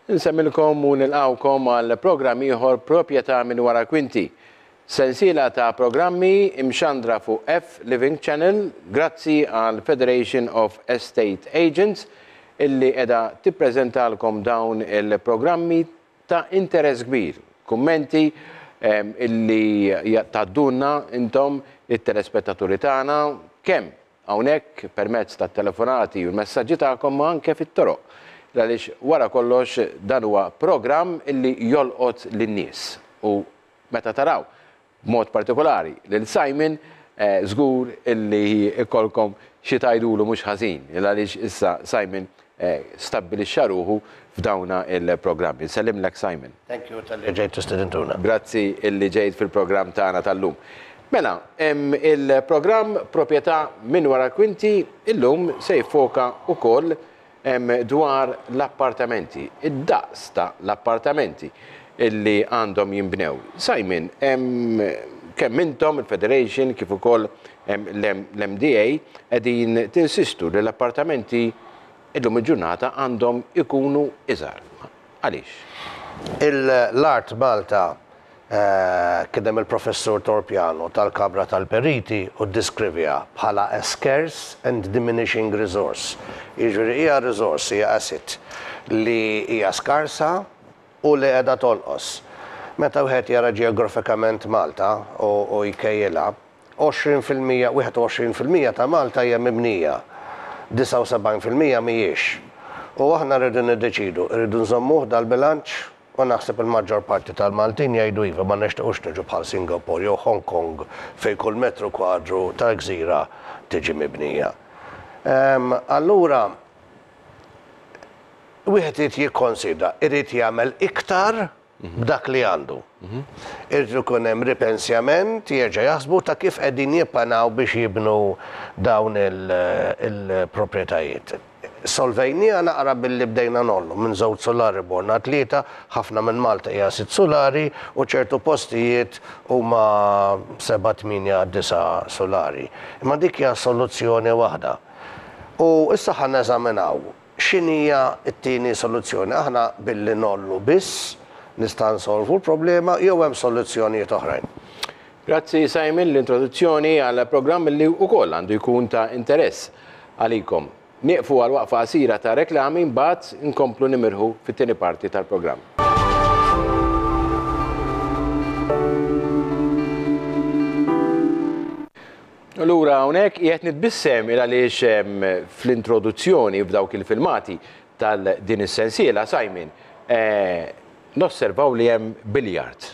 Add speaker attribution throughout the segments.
Speaker 1: Insemmilkom u nilqgħukom għal programm ieħor Proprjetà minn Wara l-Kwinti. Sensiela ta' programmi imxandra fuq F Living Channel grazzi għal Federation of Estate Agents illi qiegħda tippreżentalkom dawn il-programmi ta' interess kbir. Kummenti illi tgħaddulna intom it-telespettaturi tagħna kemm hawnhekk permezz tat-telefonati u l-messaġġi tagħkom ma anke fit-toroq għaliex wara kollox dan huwa programm li jolqot lin-nies u meta taraw b'mod partikolari lil Simon żgur li jkollkom xi tgħidulu mhux ħażin għaliex issa Simon stabbilixxa ruħu f'dawna il-programmi. Nsellimlek Simon. Thank you talli ġejt
Speaker 2: u stidintuna. Grazzi illi
Speaker 1: ġejt fil-programm tagħna tal-lum. Mela, il-programm Proprjetà minn wara l-kwinti illum se jiffoka wkoll dwar l-appartamenti, id-daqs ta' l-appartamenti illi għandhom jinbnew. Simon, kemm intom, il-Federation, kif ukoll L-MDA qegħdin tinsistu li l-appartamenti illum il-ġurnata għandhom ikunu iżgħar. Għaliex?
Speaker 2: L-Art Malta, kien hemm il-Professur Torpiano ta l-Kamra tal-Periti u ddiskrivieha bħala a scarce and diminishing resource, jiġifieri hija resource, hija asset li hija skarsa u li qiegħda tonqos. Meta wieħed jara ġeografikament Malta u jkejjilha, 20 fil-mija, 21 fil-mija ta' Malta hija mibnija, 79 fil-mija mhijiex. U aħna rridu niddeċidu, irridu nżommuh dal-bilanċ? U naħseb il-maġġor parti tal-Maltin jgħidu iva, ma nixtiequx niġu bħal Singapore jew Hong Kong fejn kull metru kwadru ta' gżira tiġi mibnija. Ehm, allura wieħed irid jikkonsidra, irid jagħmel iktar b'dak li għandu. Irid ikun hemm ripensjament, jerġa' jaħsbu ta' kif qegħdin jippanaw biex jibnu dawn il-proprjetajiet. Solvejniha naqra billi bdejna ngħollu minn żewġ sulari morna għal tlieta, ħafna minn Malta hija sitt sulari u ċertu postijiet huma seba', tmienja, disa' sulari. Imma dik hija soluzzjoni waħda. U issa ħa neżaminaw. X'inhija t-tieni soluzzjoni? Aħna billi ngħollu biss nista' nsolvu l-problema jew hemm soluzzjonijiet oħrajn? Grazzi
Speaker 1: Simon l-introduzzjoni għal programm li wkoll għandu jkun ta' interess għalikom. Nieqfu għal waqfa qasira ta' reklami mbagħad inkomplu nimirħu fit-tieni parti tal-programm. Allura hawnhekk qiegħed nitbissem il għaliex fl-introduzzjoni f'dawk il-filmati tal din is-sensiela Simon nosservaw li hemm billiard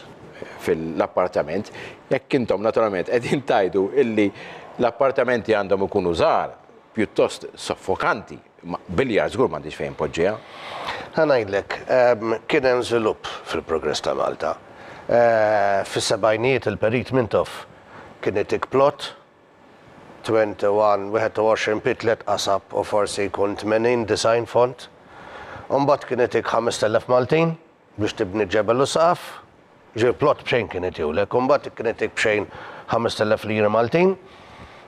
Speaker 1: fil-appartament. Jekk intom naturalment qegħdin tgħidu illi l-appartamenti għandhom ikunu żgħar pjuttost soffokanti Biljar żgur m'għandix fejn poġġiha. Ħa ngħidlek,
Speaker 2: kien hemm żvilupp fil-progress ta' Malta. Fis-sebgħinijiet il-Perit Mintoff kien itik plot, 21, 21 pied tliet qasab u forsi jkun 80, 90 fond. U mbagħad kien itik 5,000 Maltin. Biex tibni ġebel u saqaf, ġieli plott b'xejn kien itiulek, u mbagħad kien itik b'xejn ħamest elef liri Maltin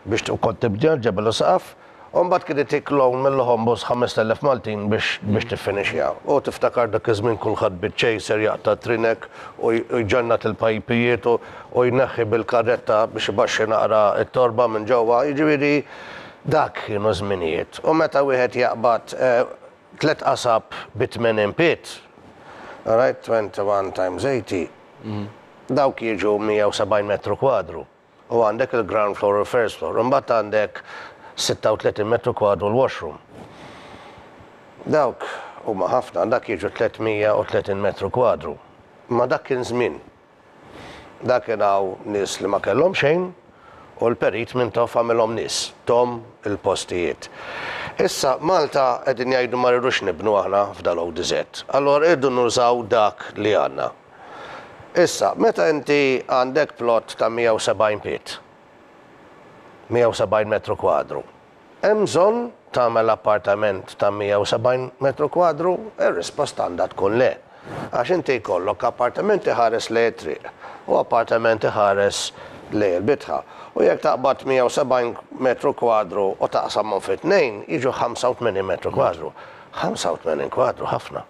Speaker 2: biex ukoll tibni ġebel u saqaf, u mbagħad kien itik loan mill-Ħombos ħamest elef Maltin biex tiffinixxiha. U tiftakar dak iż-żmien kulħadd biċ-chaser jaqta' t-trinek u jġannat il-pajpijiet u jneħħi bil-karretta biex ibaxxi naqra t-torba minn ġewwa, jiġifieri dak kienu żminijiet. U meta wieħed jaqbad Tliet qasab bi tmien impiet, orajt, 21 times 80, dawk jiġu 170 metru kwadru, u għandek il-ground floor u l-first floor. Imbagħad għandek 36 metru kwadru l-washroom. Dawk huma ħafna, dak jiġu 330 metru kwadru. Imma dak kien żmien, Dak kien hawn nies li ma kellhom xejn u l-Perit Mintoff għamilhom nies, thom il-postijiet. Issa Malta qegħdin jgħidu ma rridux nibnu aħna f'dal-ODZ. Allura irridu nużaw dak li għandna. Issa, meta inti għandek plot ta' 170 piet, 170 metru kwadru, Hemm bżonn tagħmel appartament ta' 170 metru kwadru? Ir-risposta għandha tkun le. Għax inti jkollok appartament iħares lejn it-triq u appartament iħares lejn il-bitħa. U jekk taqbad 170 metru kwadru u taqsamhom fi tnejn, jiġu 85 metru kwadru. 85 kwadru ħafna.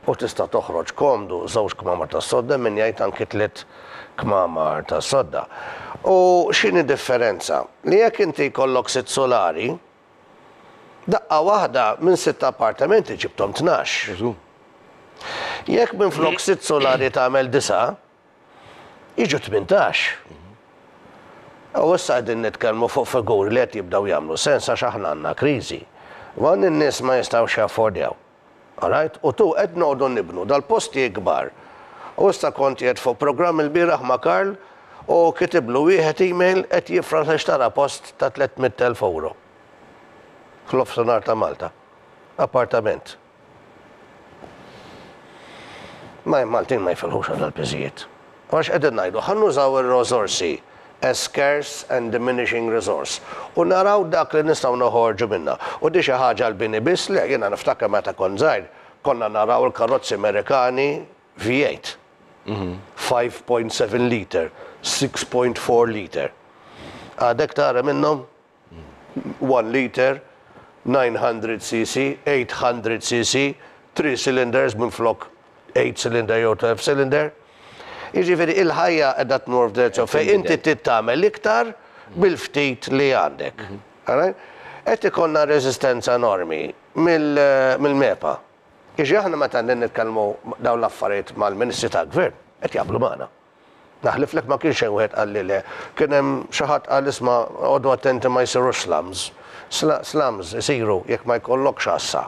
Speaker 2: u tista' toħroġ komdu żewġ kmamar tas-sodda min jgħid anki tliet kmamar tas-sodda. U x'inhi differenza? Li jekk inti jkollok sitt sulari, daqqa waħda minn sitt appartamenti ġibthom tnax. Jekk minflok sitt sulari tagħmel disa', jiġu tmintax. U issa qegħdin nitkellmu fuq figuri li qed jibdew jagħmlu sens għax aħna għandna kriżi. U hawn in-nies ma jistgħux jaffordjaw. All right, u tu qed noqogħdu nibnu dal-postijiet kbar. U issa kont qiegħed fuq programm ilbieraħ ma' Karl u kitiblu wieħed email qed jifraħ li xtara post ta' tlett mitt elf ewro f'nofsinhar ta' Malta. Appartament. Ma' Maltin ma jifilħux għal dal-piżijiet. Imma x'qegħdin ngħidu? Ħa nużaw ir-rożorsi, a scarce and diminishing resource, u naraw dak li nistgħu noħorġu minnha. U di xi ħaġa għall-bini biss? Le, jiena niftakar meta kont żgħir, konna naraw il-karozzi Merikani V8, five point seven litre, six point four litre. Għadek tara minnhom? one liter, 900 cc, 800 cc, three cylinders minflok eight cylinder jew twelve cylinder. Jiġifieri il-ħajja qiegħda tmur f'direzzjoni fejn inti trid tagħmel iktar bil-ftit li għandek. Qed ikollna reżistenza enormi mill-MEPA. Jiġifieri aħna meta nitkellmu dawn l-affarijiet mal-Ministri tal-Gvern, qed jaqblu magħna. Naħliflek ma kien xejn wieħed qalli le. Kien hemm xi ħadd qal isma' għodu attenti ma jsirux slums. Slums isiru jekk ma jkollokx għassa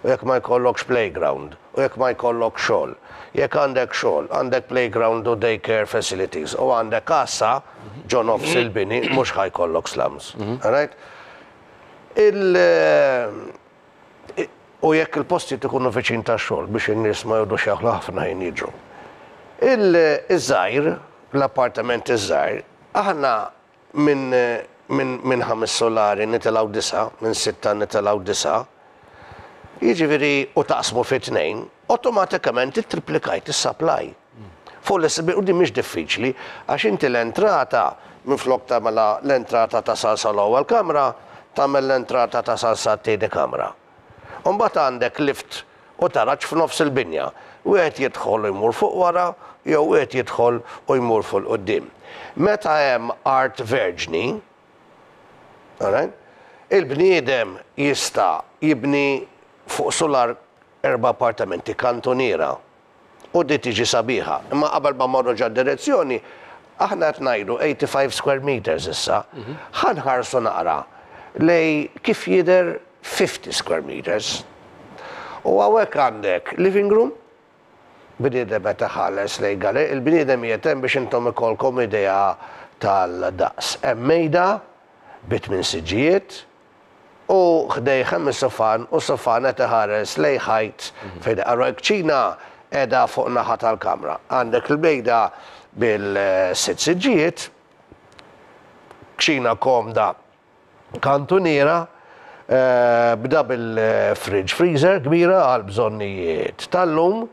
Speaker 2: u jekk ma jkollokx playground u jekk ma jkollokx xogħol. Jekk għandek xogħol, għandek playground u day care facilities u għandek għassa ġo nofs il-bini mhux ħa jkollok slums. All right? Il u jekk il-postijiet ikunu viċin tax-xogħol biex in-nies ma jgħodux jaħlu ħafna ħin jiġu. Il-żgħir, l-appartamenti ż-żgħar, aħna minn minn minn ħames sulari nitilgħu disa', minn sitta nitilgħu disa', jiġifieri u taqsmu fi tnejn, awtomatikament ittriplikajt is-supply. Fuq l-SB u din mhix diffiċli għax inti l-entrata minflok tagħmilha l-entrata ta' salsa l-ewwel kamra tagħmel l-entrata ta' salsa t-tieni kamra. U mbagħad għandek lift u taraġ f'nofs il-binja. Wieħed jidħol u jmur fuq wara jew wieħed jidħol u jmur fuq il-quddiem. Meta hemm art verġni, alright, il-bniedem jista' jibni fuq sular erba' appartamenti, kantuniera, U di tiġi sabiħa. Imma qabel ma mmorru ġa direzzjoni, aħna qed ngħidu 85 square meters issa, ħa nħarsu naqra lejn kif jidher 50 square meters. U hawnhekk għandek living room, bniedem qed iħares lejn gallerijiet, il-bniedem qiegħed hemm biex intom ikollkom idea tal-daqs. Hemm mejda bi tmien siġġijiet, u ħdejh hemm is-sufan u s-sufan qed iħares lejn ħajt fejn iqarru. Il-kċina qiegħda fuq naħa tal-kamra. Għandek il-bejda bil-sitt siġġijiet, kċina komda kantuniera, b'double fridge freezer kbira għall-bżonnijiet tal-lum,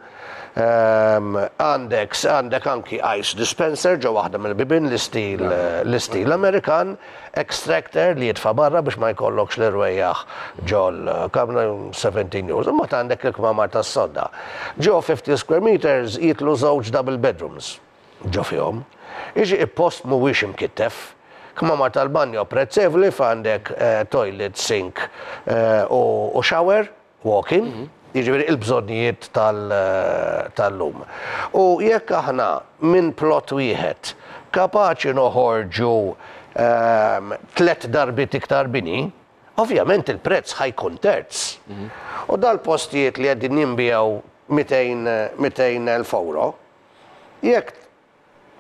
Speaker 2: Għandek għandek anki ice dispenser ġo waħda mill-bibien l-istil l-istil Amerikan, extractor li jitfa' barra biex ma jkollokx l-irwejjaħ ġol kamra 17 years. Imbagħad għandek il-kmamar tas-sodda. Ġo 50 square meters jidħlu żewġ double bedrooms ġo fihom. Jiġi il-post mhuwiex imkittef. Kmamar tal-banjo apprezzevoli f'għandek toilet, sink u shower. walking, jiġifieri il-bżonnijiet tal-lum. U jekk aħna minn plot wieħed kapaċi noħorġu tliet darbiet iktar bini, ovvjament il-prezz ħa jkun terz. U dal-postijiet li qegħdin jinbiegħu mitejn elf ewro, jekk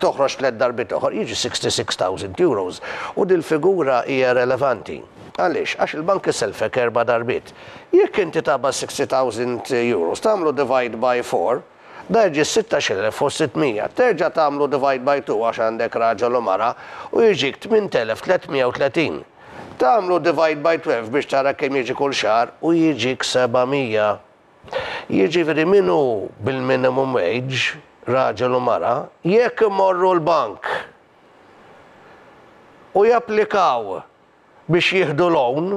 Speaker 2: toħroġ tliet darbiet oħor, jiġi €66,000 u dil-figura hija relevanti. Għaliex? Għax il-bank iselfek erba' darbiet. Jekk inti taqbad €60,000 tagħmlu divide by four, da jiġi 16,600. Terġa' tagħmlu divide by two għax għandek raġel u mara u jiġik 8,330. Tagħmlu divide by twelve biex tara kemm jiġi kull xahar u jiġik 700. Jiġifieri min hu bil-minimum wage, raġel u mara, jekk imorru l-bank u japplikaw biex jieħdu loan,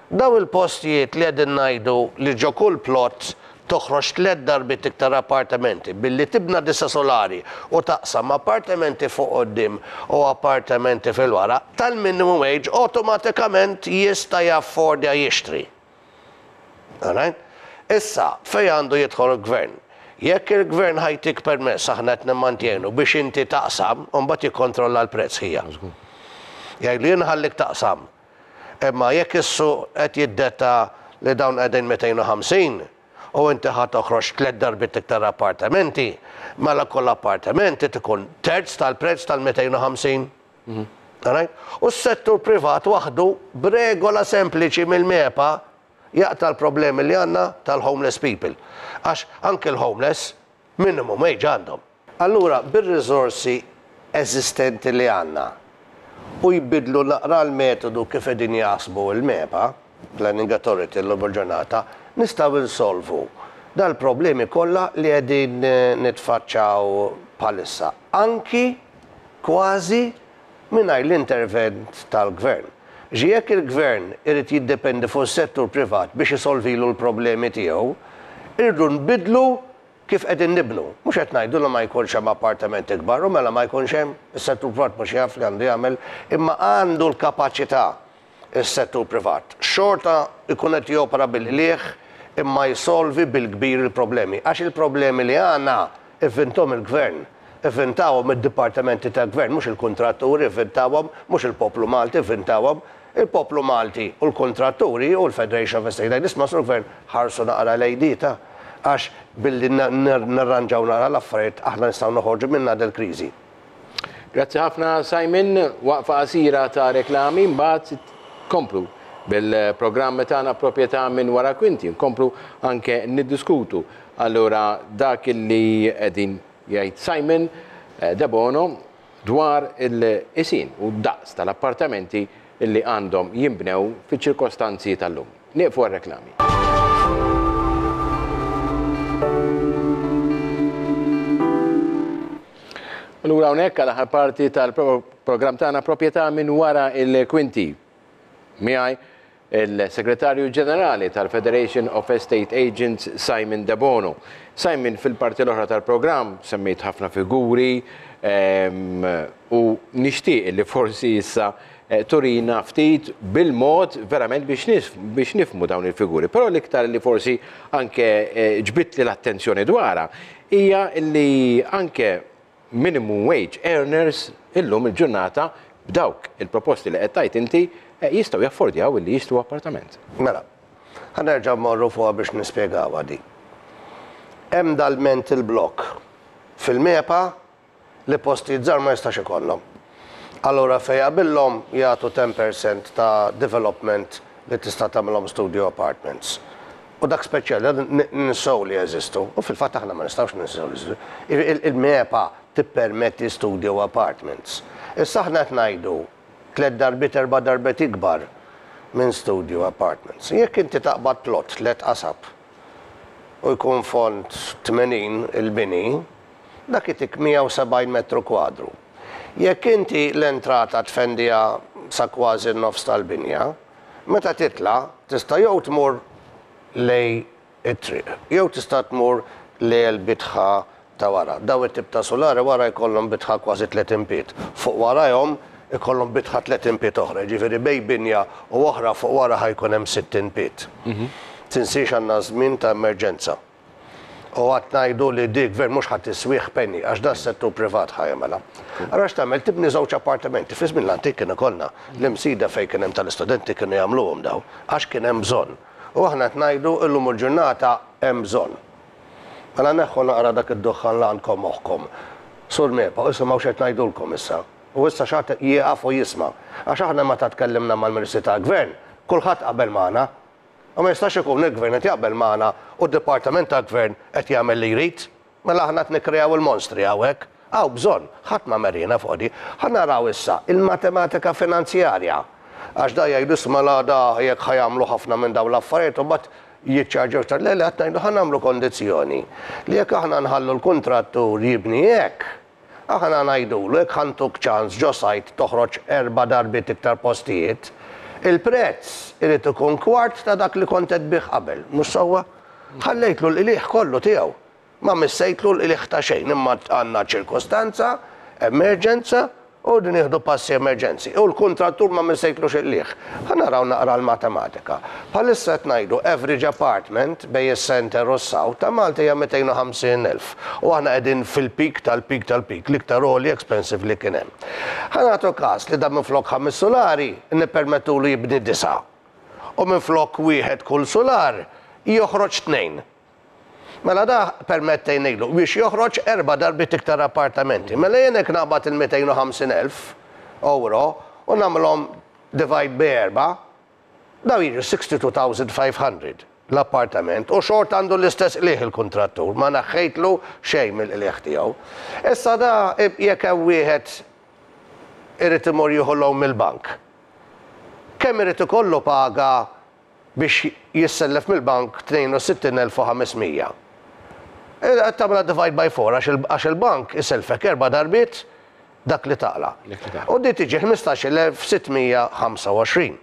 Speaker 2: dawn il-postijiet li qegħdin ngħidu li ġo kull plot toħroġ tliet darbiet iktar appartamenti billi tibna disa' sulari u taqsam appartamenti fuq quddiem u appartamenti fil-wara, tal-minimum wage awtomatikament jista' jaffordja jixtri. Alright? Issa, fejn għandu jidħol il-Gvern? Jekk il-Gvern ħa jtik permess, aħna qed nimmantienu, biex inti taqsam, imbagħad jikkontrolla l-prezz ħija. Jgħidlu jien nħallik taqsam. Imma jekk is-suq qed jiddetta li dawn qegħdin 250 u inti ħa toħroġ tliet darbiet iktar appartamenti, mela kull appartament irid ikun terz tal-prezz tal-250. All right? U s-settur privat waħdu b'regola sempliċi mill-MEPA jaqta' l-problemi li għandna tal-homeless people. Għax anki l-homeless minimum wage għandhom. Allura bir-riżorsi eżistenti li għandna u jbiddlu naqra l-metodu kif qegħdin jaħsbu l-MEPA, Planning Authority llum il-ġurnata, nistgħu nsolvu dal-problemi kollha li qegħdin nitfaċċaw bħalissa. Anki kważi mingħajr l-intervent tal-Gvern. Xi jekk il-Gvern irid jiddependi fuq is-settur privat biex isolvilu l-problemi tiegħu, irridu nbiddlu kif qegħdin nibnu. Mhux qed ngħidu li ma jkunx hemm appartamenti kbar u mela ma jkunx hemm, is-settur privat mhux jaf li għandu jagħmel, imma għandu l-kapaċità is-settur privat xorta jkun qed jopera bil-qligħ imma jsolvi bil-kbir il-problemi għax il-problemi li għandna ivvinthom il-Gvern, ivvinthawhom id-dipartimenti tal-Gvern mhux il-kuntratturi ivvinthawhom mhux il-poplu Malti ivvinthawhom il-poplu Malti u l-kuntratturi u l-Federation of Estate Agents ma Sur Gvern ħarsu naqra lejn di ta' għax billi nirranġaw naqra l-affarijiet aħna nistgħu noħorġu minnha dil-kriżi. Grazzi
Speaker 1: ħafna Simon, waqfa qasira ta' reklami mbagħad komplu bil-programm tagħna proprjetà minn wara kwinti, nkomplu anke niddiskutu allura dak li qegħdin jgħid Simon eh, Debono dwar il-qisien u d-daqs tal-appartamenti li għandhom jinbnew fiċ-ċirkostanzi tal-lum. Nieqfu għar-reklami. U lura hawnhekk għal aħħar parti tal-programm tagħna Proprjetà minn wara l-kwinti. Miegħi il-Segretarju Ġenerali tal-Federation of Estate Agents Simon Debono. Simon, fil-parti l-oħra tal-programm semmejt ħafna figuri u nixtieq illi forsi issa turina ftit bil-mod verament biex nifhmu dawn il-figuri. Però l-iktar li forsi anke ġbidtli l-attenzjoni dwarha hija li anke minimum wage earners illum il-ġurnata b'dawk il-proposti li qed tgħid inti jistgħu jaffordjaw illi jixtru appartament. Mela,
Speaker 2: ħa nerġa' mmorru fuqha biex nispjegawha din. Hemm dal-mental block fil-MEPA li postijiet żgħar ma jistax ikollhom. Allura fejn jaqbillhom jagħtu ten per cent ta' development li tista' tagħmilhom studio apartments. U dak speċjali għad ninsew li jeżistu, u fil-fatt aħna ma nistgħux ninsew li jeżistu. Jiġifieri il-MEPA tippermetti studio apartments. Issa aħna qed ngħidu tliet darbiet erba' darbiet ikbar minn studio apartments. Jekk inti taqbad plot tliet qasab u jkun fond 80 il-bini, dak itik 170 metru kwadru. Jekk inti l-entrata tfendiha sa kważi n-nofs tal-binja, meta titla' tista' jew tmur lej it-triq jew tista' tmur lejl bitħa ta' wara. Dawn it-tip ta' sulari wara jkollhom bitħa kważi 30 pied. Fuq warajhom ikollhom bitħa 30 pied oħra, jiġifieri bejn binja u oħra fuq wara ħa jkun hemm 60 pied. Tinsiex għandna żmien ta' emerġenza. U għad ngħidu li dik gvern mhux ħa tiswih penny għax dan settur privat ħa jagħmilha. Allura x'tagħmel tibni żewġ appartamenti. Fi żmien l-antik kien ikollna l-imsida fejn kien hemm tal-istudenti kienu jagħmluhom dawn għax kien hemm bżonn. U aħna qed ngħidu illum il-ġurnata hemm bżonn. Mela neħħu naqra dak id-duħħan li għandkom moħħkom. Sur MEPA, isimgħu x'qed ngħidulkom issa. U issa x'għad jieqaf u jisma'. Għax aħna meta tkellimna mal-Ministri tal-Gvern, kulħadd qabel magħna. U ma jistax ikun li l-Gvern qed jaqbel magħna u d-Dipartiment tal-Gvern qed jagħmel li jrid. Mela aħna qed nikkreaw il-monstri hawnhekk. Hawn bżonn, ħadd ma mer jiena fuq di. Ħa naraw issa il-matematika finanzjarja. Għax dawn jgħidu isma' l-għada jekk ħa jagħmlu ħafna minn dawn l-affarijiet u mbagħad jiċċarġew iktar. Le, le, qed ngħidu ħa nagħmlu kondizzjoni li jekk aħna nħallu l-kuntrattur jibni hekk, Aħna ngħidulu jekk ħa ntuk ċans ġo sajd toħroġ erba' darbiet iktar postijiet, il-prezz irid ikun kwart ta' dak li kont qed tbigħ qabel, mhux sewwa? Ħallejtlu l-qligħ kollu tiegħu. Ma missejtlu l-qligħ ta' xejn imma għandna ċirkustanza, emerġenza, u rridu nieħdu passi emerġenzi. U l-kuntrattur ma missejtlux il-qligħ. Ħa naraw naqra l-matematika. Bħalissa qed ngħidu average apartment bejn is-centre u s-south ta' Malta hija 250 elf. U aħna qegħdin fil-peak tal-peak tal-peak, l-iktar għoli expensive li kien hemm. Ħa nagħtu każ li dan minflok ħames sulari nippermettulu jibni disgħa u minflok wieħed kull sular joħroġ tnejn. Mela da permettejnilu biex joħroġ erba' darbiet iktar appartamenti. Mela jien hekk naqbad il-250,000 ewro u nagħmilhom divide bi erba', Dawn jiġu 62,500 l-appartament u xorta għandu l-istess qligħ il-kuntrattur, ma neħħejtlu xejn mill-qligħ tiegħu. Issa da jekk hemm wieħed irid imur jieħu loan mill-bank, kemm irid ikollu paga biex jissellef mill-bank 62,500? Qed tagħmilha divide by four għax il-bank isellfek erba' darbiet dak li taqla'. U di tiġi 15625.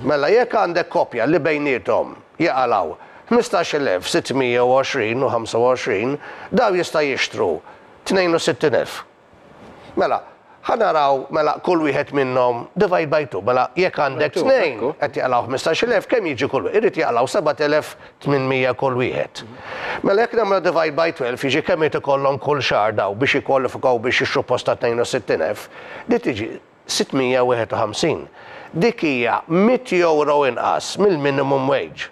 Speaker 2: Mela jekk għandek koppja li bejniethom jaqalgħu 15620 u 25, dawn jista' jixtru 62000. Mela, ħa naraw mela kull wieħed minnhom divide by two. Mela jekk għandek tnejn qed jaqlgħu 15000 kemm jiġi kull wieħed? Irid jaqlgħu 7000 800 kull wieħed. Mela jekk nagħmluha divide by 12 jiġi kemm irid ikollhom kull xahar dawn biex jikkwalifikaw biex jixtru post ta' 62,000? Din tiġi 651. Dik hija mitt euro inqas mill-minimum wage.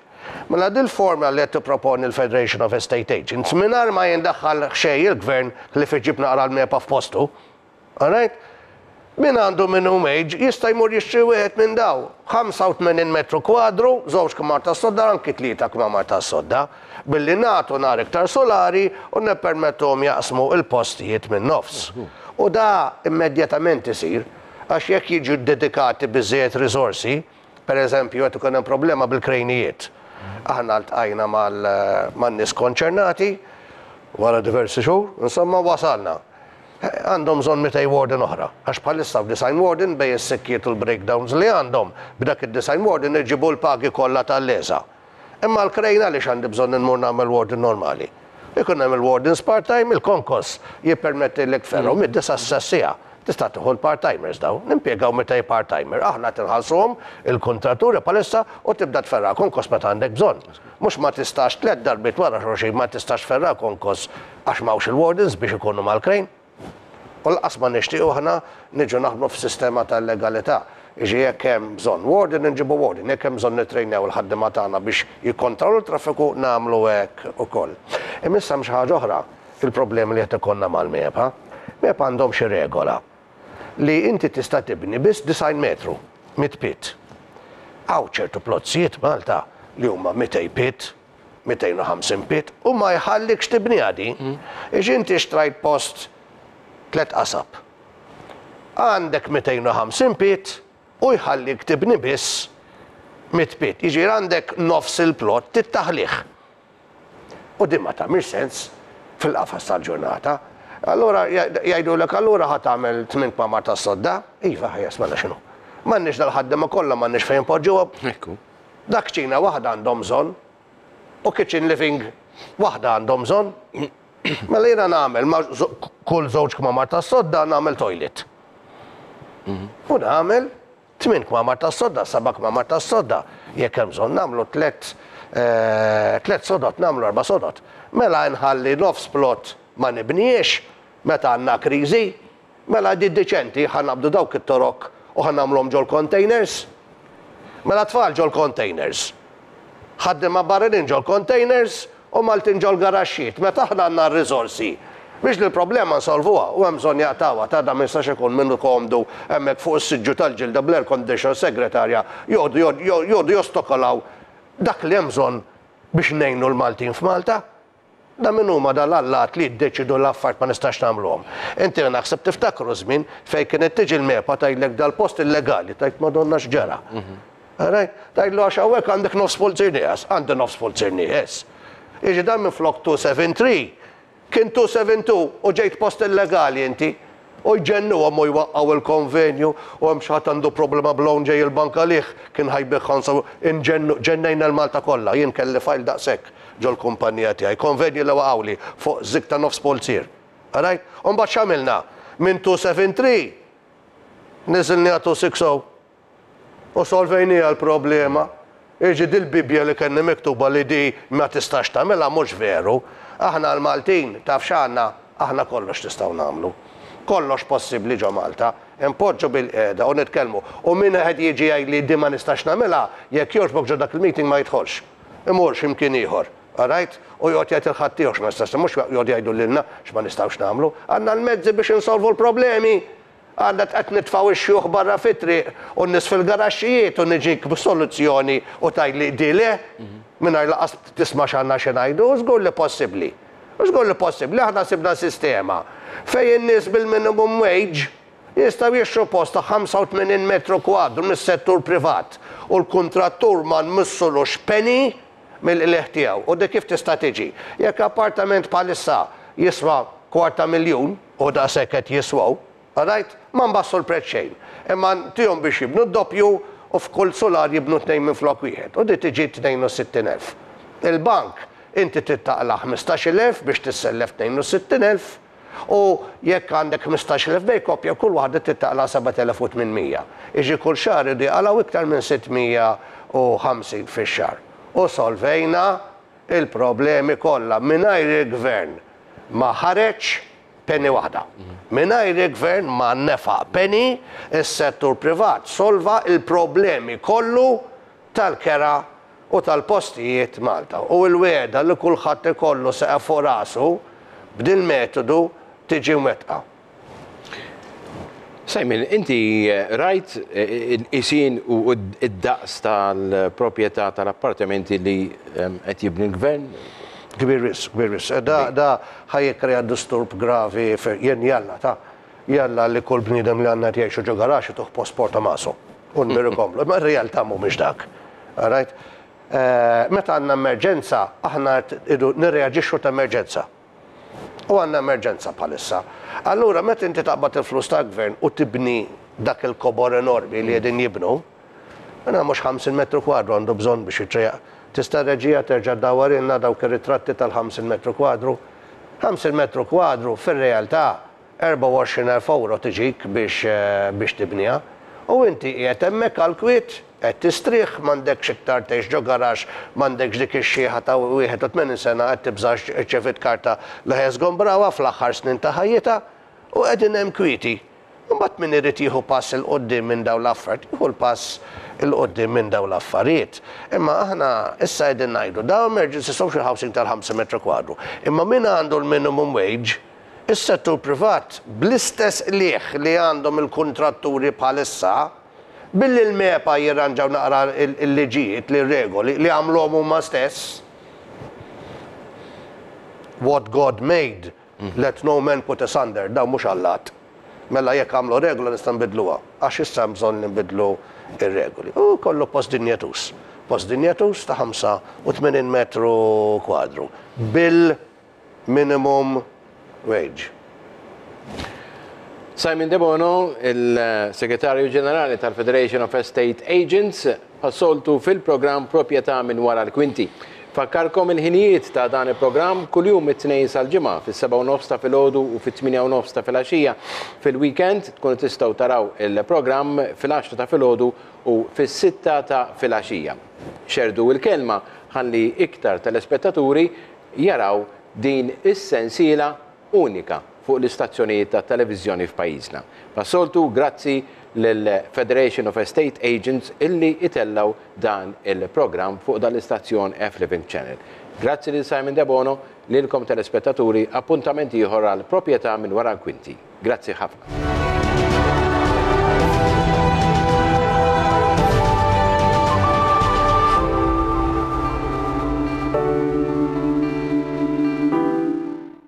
Speaker 2: Mela dil-formula li qed tipproponi l-Federation of Estate Agents, mingħajr ma jindaħħal xejn il-Gvern ħlief iġib naqra l-mepa f'postu, Alright? Min għandu minimum wage jista' jmur jixtri wieħed minn dawn, 85 metru kwadru, żewġ kmamar tas-sodda, anki tlieta kmamar tas-sodda, billi nagħtu nhar iktar sulari u nippermettuhom jaqsmu l-postijiet min-nofs. U da immedjatament isir, għax jekk jiġu ddedikati biżżejjed riżorsi, Pereżempju, qed ikun hemm problema bil-krejnijiet. Aħna ltqajna man-nies konċernati, wara diversi xhur, insomma, wasalna. Għandhom bżonn mitej warden oħra, għax bħalissa f'disgħin warden, bejn is-sikkiet u l-breakdowns li għandhom, b'dak id-disgħin warden irġibu l-pagi kollha tal-leżgħa. Imma għall-crane għaliex għandi bżonn immur nagħmel warden normali? Ikun hemm il-wardens part-time, il-konkos jippermettilek fergħu mid-disa' sas-siegħa. Tista' tieħu l-part-timers dawn. Nimpjegaw mitej part-timer. Aħna qed inħallsuhom il-kuntraturi bħalissa u tibda tferra' konkos meta għandek bżonn. Mhux ma tistax tliet darbiet wara xulxin ma tistax tferra' konkos għax m'hawnx il-wardens biex ikunu mal-crane. U lanqas ma nixtiequ aħna niġu naħdmu f'sistema ta' illegalità. Jiġri jekk hemm bżonn warden inġibu warden, jekk hemm bżonn nittrejnew il-ħaddiema tagħna biex jikkontrawlu t-traffiku nagħmlu hekk ukoll. Imma issa hemm xi ħaġa oħra, il-problemi li qed ikollna mal-MEPA. MEPA għandhom xi regola li inti tista' tibni biss 90 metru mit-pied. Hawn ċertu plozzijiet Malta li huma 200 pied. 250 pit u ma jħallikx tibniha din għax inti xtrajt post tliet qasab. Għandek 250 pit u jħallik tibni biss mitt pit. Jiġifieri għandek nofs il-plot trid taħlih. U din ma tagħmilx sens fil-qafas tal-ġurnata. Allura jgħidulek allura ħa tagħmel tmien kmamar tas-sodda? Iva, ħajja, smana x'inhu. M'għandniex dal-ħaddiema kollha m'għandniex fejn inpoġġuhom. Ekku. Dak kċina waħda għandhom bżonn u kitchen living waħda għandhom bżonn. Mela jiena nagħmel ma' kull żewġ kmamar tas-sodda nagħmel toilet. U nagħmel tmien kmamar tas-sodda, seba' kmamar tas-sodda, jekk hemm bżonn nagħmlu tliet tliet sodod, nagħmlu erba' sodod. Mela nħalli nofs plot ma nibnihiex meta għandna kriżi Mela għidiet deċenti, ħa naqbdu dawk it-torok u ħa nagħmluhom ġol-containers. Mela tfal ġol-containers. Ħaddiema barranin ġol-containers u Maltin ġol-garaxxijiet. Meta aħna għandna r-riżorsi biex l-problema nsolvuha u hemm bżonn jaqtgħuha, ta' da ma jistax ikun minnu komdu hemmhekk fuq is-siġġu tal-ġilda bl-air condition segretarja joqogħdu jostokolaw dak li hemm bżonn biex ngħinu l-Maltin f'Malta. Da min huma da l-allat li jiddeċidu l-affarijiet ma nistax nagħmluhom. Inti li naħseb tiftakru żmien fejn kienet tiġi l-MEPA tgħidlek da l-post illegali, tgħid Madonna x'ġara. Rajt? Tgħidlu għax hawnhekk għandek nofs pulzir nieqes, għandi nofs pulzir nieqes. Jiġifieri dan minflok 273 kien 272 u ġejt post illegali inti. U jġennuhom u jwaqqgħu il-konvenju u hemm xi ħadd għandu problema b'loan ġej il-bank għalih, kien ħa jbiegh ħa nsaw, inġennu, ġennejna l-Malta kollha, jien kelli file daqshekk ġol-kumpannija tiegħi, konvenji li waqgħuli fuq żig ta' nofs pulzier. Arajt? U mbagħad x'għamilna? Minn 273 niżilniha 260. U solvejniha l-problema. Jiġi din il-Bibbja li kellna miktuba li di ma tistax tagħmilha mhux veru. Aħna l-Maltin taf x'għandna? Aħna kollox nistgħu nagħmlu. Kollox possibbli ġo Malta. Inpoġġu bilqiegħda u nitkellmu. U min wieħed jiġi jgħidli di ma nistax nagħmilha, jekk jogħġbok ġo dak il-meeting ma jidħolx. Imur xi mkien ieħor. Qrajt? U joqgħod jgħid il-ħadd tiegħu x'ma nistax nagħmel. Mhux joqgħodu jgħidu lilna x'ma nistgħux nagħmlu. Għandna l-mezzi biex insolvu l-problemi. Għandek qed nitfgħu x-xjuħ barra fit-triq u n-nies fil-garaxxijiet u niġik b'soluzzjoni u tgħidli di le? Mingħajr lanqas tisma' x'għandna xi ngħidu? Żgur li possibbli. Żgur li possibbli. Aħna sibna sistema fejn in-nies bil-minimum wage jistgħu jixtru post ta' 85 metru kwadru mis-settur privat u l-kuntrattur ma nmissulux penny mill-qligħ tiegħu. U di kif tista' tiġi? Jekk appartament bħalissa jiswa kwart ta' miljun, Hu daqshekk qed jiswaw. Rajt? Ma nbassu l-prezz xejn. Imma ntihom biex jibnu d-doppju u f'kull sular jibnu tnejn minflok wieħed u di tiġi tnejn u sittin elf. Il-bank inti trid taqla' ħmistax-il elf biex tissellef tnejn u sittin elf u jekk għandek ħmistax-il elf bejn koppja kull waħda trid taqla' sebat elef u tmien mija. Jiġri kull xahar iridu jaqalgħu iktar minn sitt mija u ħamsin fix-xahar. U solvejna il-problemi kollha mingħajr il-Gvern ma ħareġ penny waħda. Mingħajr il-Gvern ma nefaq penny, is-settur privat solva l-problemi kollu tal-kera u tal-postijiet Malta. U l-wegħda li kulħadd ikollu seqef fuq rasu b'dil-metodu tiġi mwettqa.
Speaker 1: Simon, inti rajt isin u id-daqs tal-proprjetà tal-appartamenti li qed jibni l-Gvern? Kbir wisq,
Speaker 2: kbir wisq. Da, da ħa jikkrea disturb gravi fi, jien jalla, ta, jalla li kull bniedem li għandna qed jgħixu ġo garaxx ituh post Porta Maso u nmiru nkomplu. Imma r-realtà mhumiex dak. Rajt? Meta għandna emerġenza, aħna qed idu nirreaġixxu ta' emerġenza. U għandna emerġenza bħalissa. Allura meta inti taqbad il-flus tal-Gvern u tibni dak il-kobor enormi li qegħdin jibnu, mela mhux 50 metru kwadru għandu bżonn biex jitrejjaq. Tista' reġija terġa' ddawwarilna dawk ir-ritratti tal-50 metru kwadru? 50 metru kwadru fir-realtà 24,000 ewro tiġik biex biex tibniha. U inti qiegħed hemmhekk għall-kwiet. Qed tistrieħ? M'għandekx iktar tgħix ġo garaxx? M'għandekx dik ix-xiħa ta' 81 sena qed tibżax irċeviet karta li ħa jżgombrawha fl-aħħar snin ta' ħajjitha? U qegħdin hemm kwieti. Imbagħad min irid jieħu pass 'il quddiem minn dawn l-affert jieħu l-pass 'il quddiem minn dawn l-affarijiet. Imma aħna issa qegħdin ngħidu dawn emergency social housing tal-ħamsa metru kwadru. Imma min għandu l-minimum wage? Is-settur privat bl-istess qligħ li għandhom il-kuntratturi bħalissa. Billi l-MEPA jirranġaw naqra l-liġijiet li r-regoli, li għamluhom huma stess, What God made, let no man put asunder, dawn mhux allat. Mela jekk għamlu regola nistgħu nbiddluha, għax issa hemm bżonn li nbiddlu r-regoli. U jkollu post dinjetuż. Post dinjetuż ta' 85 metru kwadru. Bil. minimum wage.
Speaker 1: Simon Debono, il-Segretarju Ġenerali tal-Federation of Estate Agents, bħas-soltu fil-programm Proprjetà minn Wara l-Kwinti. Nfakkarkom il-ħinijiet ta' dan il-programm, kuljum mit-Tnejn sal-Ġimgħa fis-sebgħa u nofs ta' filgħodu u fit-tmienja u nofs ta' filgħaxija. Fil-weekend tkunu tistgħu taraw il-programm fil-għaxra ta' filgħodu u fis-sitta ta' filgħaxija. Xerrdu l-kelma ħalli iktar telespettaturi jaraw din is-sensiela unika fuq l-istazzjonijiet tat-televiżjoni f'pajjiżna. Passoltu grazzi lill-Federation of Estate Agents illi itellgħu dan il-programm fuq dan l-istazzjon F-Living Channel. Grazzi lil Simon Debono, lilkom telespettaturi, appuntament ieħor għal Propjetà minn Wara l-Kwinti. Grazzi ħafna.